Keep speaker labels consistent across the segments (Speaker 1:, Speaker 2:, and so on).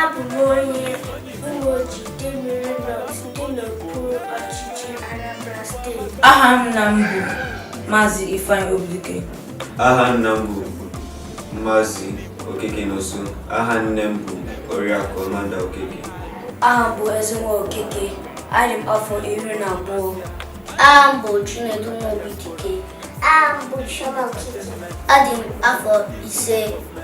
Speaker 1: Abụ m onye Umuoji Idemili North dị n'okpuru ọchịchị Anambra steeti. Aha nna m bụ
Speaker 2: Maazị Ifeanyi Obidike. Aha nna
Speaker 3: m bụ Maazị Okeke Nonso. Aha nne m bụ Oriakụ Amanda Okeke. Aha m
Speaker 1: bụ Ezenwa Okeke. Adị m afọ iri na abụọ. Aha m
Speaker 4: bụ Chinedu Nwobidike. Aha m bụ
Speaker 1: Chioma Okeke. Adị m
Speaker 4: afọ ise.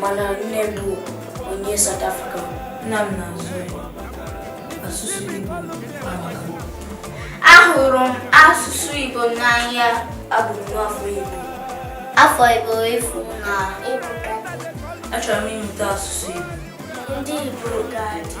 Speaker 1: mana nne m bụ onye South Africa nna m
Speaker 2: na-asụ asụsụ Igbo
Speaker 4: ahụrụ m asụsụ Igbo n'anya abụ m nwa
Speaker 1: afọ Igbo
Speaker 4: afọ Igbo efu na ịpụta
Speaker 2: achọrọ m ịmụta asụsụ Igbo ndị Igbo
Speaker 1: ga-adị